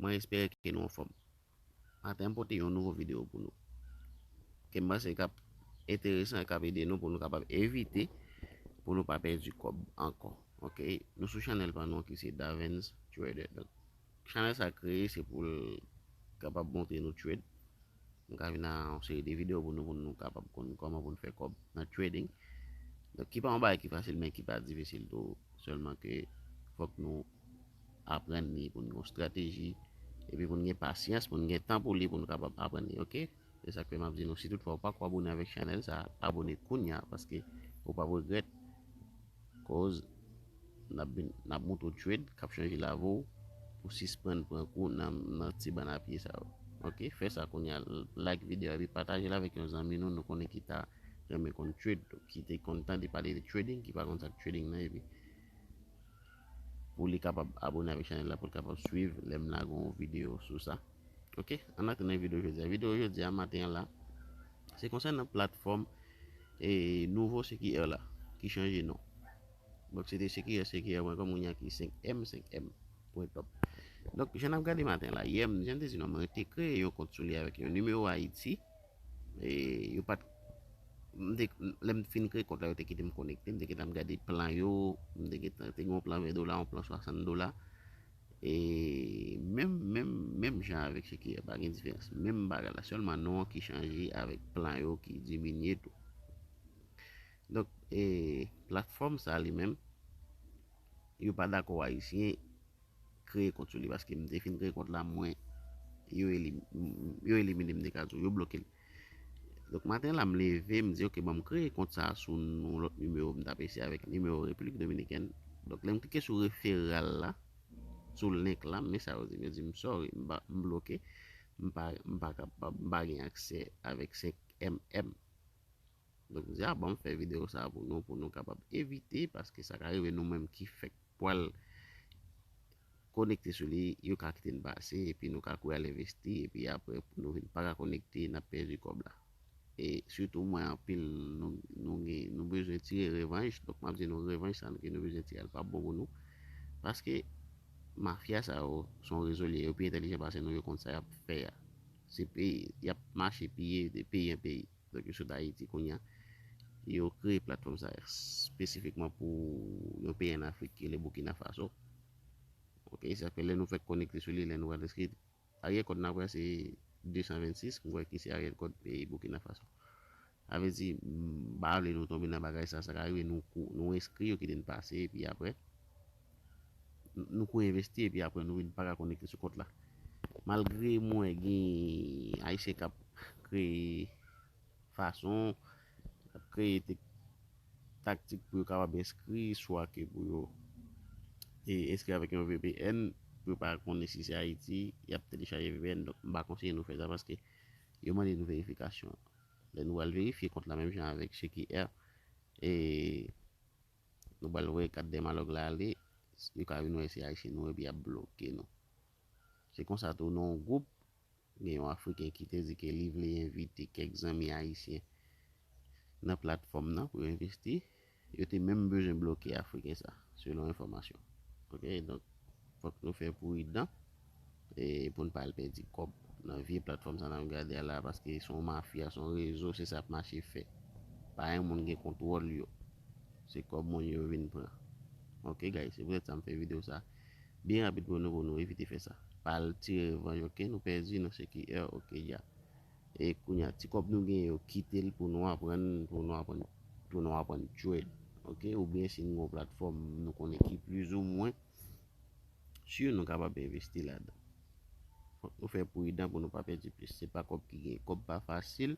Mwen espere ke nou anfòm. Maten an pote yon nouvo video pou nou. Ke m panse kap enteresan e kap ede nou pou nou kapab evite pou nou pa pèdi kòb ankò. Ok, nou sou chanèl pa nou ki se Davens Trader. Donk, chanèl sa kreye se pou l kapab montre nou trade. Nou ka vin nan yon seri de video pou nou pou nou kapab konn kòman pou nou fè kòb nan trading. Donk, ki pa yon bagay ki fasil men ki pa difisil tou. Sèlman ke fòk nou aprann li pou n gen yon strateji epi pou n gen pasyans pou n gen tan pou li pou nou kapab aprann li ok se sak fè map di nou si tout fwa ou pako abone avèk chanèl sa abone kounya paske ou pap regrèt koz nap vin nap moutre w trade kap chanje lavi w pou sispann pran kou nan ti bann a pye sa yo ok fè sa kounya like video a epi pataje l avèk yon zanmi nou nou konnen ki ta renmen konn trade ki te konn tande pale de trading ki pa konn sak trading nan epi pou li kapab abone avèk chanèl la pou l kapab swiv lè m lage yon videyo sou sa ok an atenn nan videyo jodi a videyo jodi a maten an la se konsènan platfòm e nouvo CQR la ki chanje non donk se te CQR CQR mwen kòm yon ki 5M 5M pwen top donk jan n ap gade maten la yè m jan m te di non mwen te kreye yon kont sou li avèk yon nimewo Ayiti E yo pat Lè m t fin kreye kont la yo te kite m konekte M te gentan ap gade plan yo M te gentan te gen yon plan 20 dola yon plan 60 dola E menm menm menm jan avèk se ki pa gen diferans Menm bagay la sèlman non an ki chanje avèk plan yo ki diminye tou Donk e platfòm sa li menm Yo pa dakò ayisyen kreye kont sou li paske m te fin kreye kont la mwen yo elimine m de kazou yo bloke l donk maten la m leve m di ok bon m kreye kont sa sou yon lòt nimewo m tap eseye avèk nimewo repiblik dominikèn donk lè m klike sou referral la sou link la men sa yo di m yo di m sorry m bloke m pa kapab m pa gen aksè avèk 5 mm. Donk m di a banm fè video sa pou nou pou nou kapab evite paske sa ka rive nou menm ki fèk pwal konekte sou li yo ka kite n pase epi nou ka kouri al envesti epi aprè pou nou vin paka konekte nap pèdi kòb la e sitou mwen anpil nou nou gen nou bezwen tire revanj donk map di nou revanj sa ke nou bezwen tire a li pap bon pou nou paske mafya sa yo son rezo liye yo pi entèlijan pase nou yo konn sa yap fè a se peyi yap mache piye de peyi an peyi. Donk yo sot Ayiti kounya. Yo kreye platfòm sa espesifikman pou yon peyi an Afrik ki rele Boukina Faso. Ok, sa fè lè nou fèk konekte sou li, lè nou al eskri Ariel kòd nap wè se 226, m wè ki se Ariel kòd peyi Boukina Faso. Sa vle di m pa vle nou tonbe nan bagay sa, sa ka rive nou kou, nou eskri yo kite n pase epi aprè. Nou ko envesti epi aprè nou vin paka konekte sou kont la. Malgre m wè gen ayisyen kap kreye fason, kap kreye taktik pou yo kapab enskri, swa ke pou yo enskri avèk yon vpn, pou yo pa konnen si se Ayiti, yap telechaje vpn, donk m pa konseye nou fè sa paske yo mande nou verifikasyon. Lè nou al verifye kont la menm jan avèk Checky Air e. Nou pral voye kat Dèmalòg la ale, yo ka vin wè se Ayisyen nou epi y ap bloke nou. Se konsa tou nan yon gwoup, gen yon Afriken ki te di ke li vle envite kèk zanmi Ayisyen nan platfòm nan pou yo envesti. Yo te menm bezwen bloke Afriken sa, selon enfòmasyon. Ok, donk fòk nou fè pridan. e poun pa al pèdi kòb nan vye platfòm sa nap gade a la paske son mafya son rezo se sa yap mache fè pa yon moun gen kontwòl yo se kòb moun yo vin pran ok guys se poutèt sa m fè video sa byen rapid pou nou pou nou evite fè sa pa al tire revanj ok nou pèdi nou se ki èr ok ya e kounya ti kòb nou gen yo kitel pou nou aprann pou nou aprann pou nou aprann trade ok oubyen si nou gen yon platfòm nou konnen ki plizoumwen Sure nou kapab envesti ladan. Fok nou fè prudan pou nou pa pèdi plis. Se pa kob ki gen. Kob pa fasil.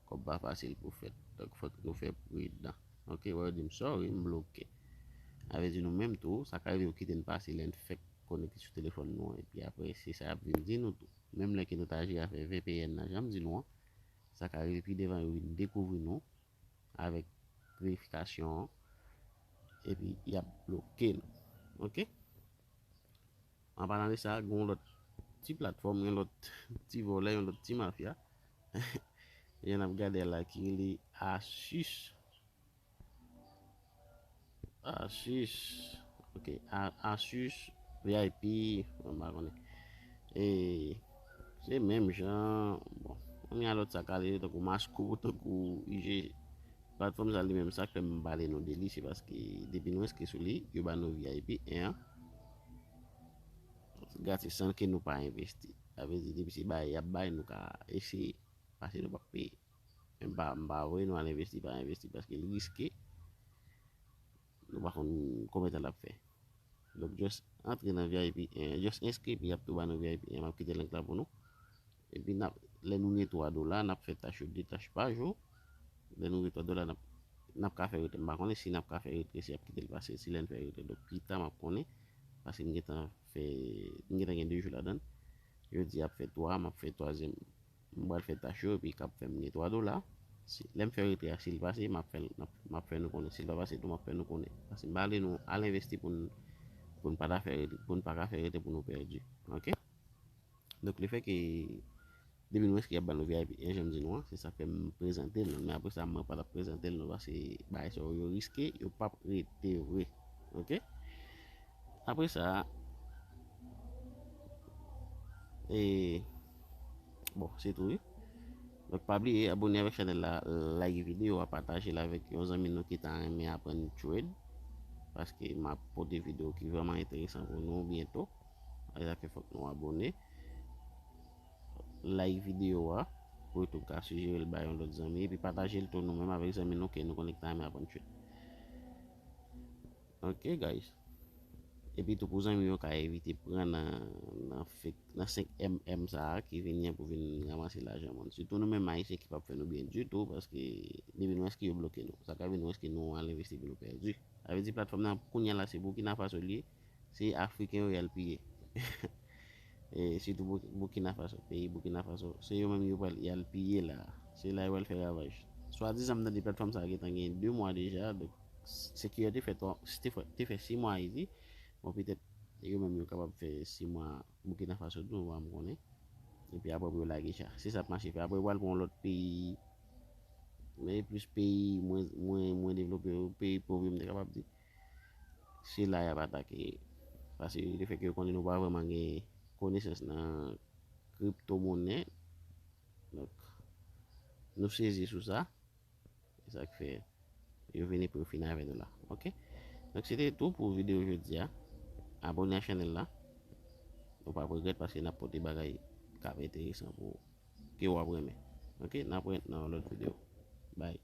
Kob pa fasil pou fèt. Donk fok nou fè prudan. Ok wè yo dim sorry m bloke. A vle di nou menm tou sa ka rive yo kite n pase lè n fèk konekte sou telefòn nou an epi aprè se sa yap vin di nou tou. Menm lè ke nou ta jere avè vpn nan janm di nou an sa ka rive pi devan yo vin dekouvri nou avèk verifikasyon an epi y ap bloke nou ok an palan de sa gen yon lòt ti platfòm yon lòt ti vòlè yon lòt ti mafya epi n ap gade la ki rele asus Asus ok asus vip mwen pa konnen e se menm jan bon mwen gen alòt sa kale tankou masko tankou ig platfòm sa li menm sak fèm pale nou deli se paske depi nou enskri sou li yo ba nou vip 1 an gratis san ke nou pa envesti sa vle di depi se bay yap bay nou ka eseye pase nou pap peye. M pa m pa voye nou al envesti pa envesti paske li riske nou pa konn konbyen tan lap fè donk just antre nan vip 1 an just enskri epi yap tou ba nou vip 1 an map kite link la pou nou epi nap lè nou gen 3 dola nap fè tach yo 2 tach pa jou lè nou gen 3 dola nap nap ka fè retrè m pa konnen si nap ka fè retrè si yap kite l pase si lè n fè retrè donk pita map konnen paske m gentan fè m gentan gen 2 jou ladann jodi a ap fè 3 map fè twazyèm M pral fè tach yo epi kap fèm gen 3 dola si lèm fè retrè a sil pase map fèl map fè nou konnen sil pa pase tou map fè nou konnen paske m pa vle nou al envesti poun poun pa ta fè retrè poun paka fè retrè pou nou pèdi ok donk le fè ke depi nou enskri yap ba nou vip e janm di nou an se sak fèm prezantel nou men apresa mwen patap prezantel nou paske bagay sa yo riske yo pap rete vre ok apresa e. Bon se tou wi. Donk pa bliye abone avèk chanèl la, like videyo a, pataje l avèk yon zanmi nou ki ta renmen aprann trade paske m ap pote videyo ki vrèman enteresan pou nou byento. Se sa k fè fòk nou abone. Like videyo a pou youtube ka sijere l ba yon lòt zanmi epi pataje l tou nou menm avèk zanmi nou ke nou konnen ki ta renmen aprann trade. Ok guys Epitou pou zanmi yo ka evite pran nan nan 5 mm sa a ki vini an pou vin ranmase lajan moun. Sitou nou menm Ayisyen ki pap fè nou byen ditou paske depi nou enskri yo bloke nou. Sa ka vin nou enskri nou al envesti epi nou pèdi. Sa vle di platfòm nan kounya la se Burkina Faso li ye, se Afriken yo y al piye. E sitou Burkina Faso, peyi Burkina Faso, se yo menm yo pral yal piye la. Se la yo pral fè ravaj. Swadizan m tande platfòm sa gentan gen 2 mwa deja, donk CQR te fè 3, te fè 6 mwa Ayiti, bon petèt yo menm yo kapab fè 6 mwa Burkina Faso tou, pa m konnen. Epi aprè pou yo lage cha. Se sa ap mache fè. Aprè yo pral pran yon lòt peyi, men plis peyi mwen mwen devlope yo, peyi pov yo m te kapab di. se la y ap atake. Pase le fè ke yo konnen nou pa vreman gen konesans nan kripto monnen, donk nou sezi sou sa, se sa k fè yo vini pou yo fini avè nou la. Ok, donk se te tou pou video jodi a, abone a chanèl la, nou pa p regrèt paske n ap pote bagay k ap enteresan pou ou, ke ou ap renmen. Ok, n ap wè nan yon lòt video. Bye.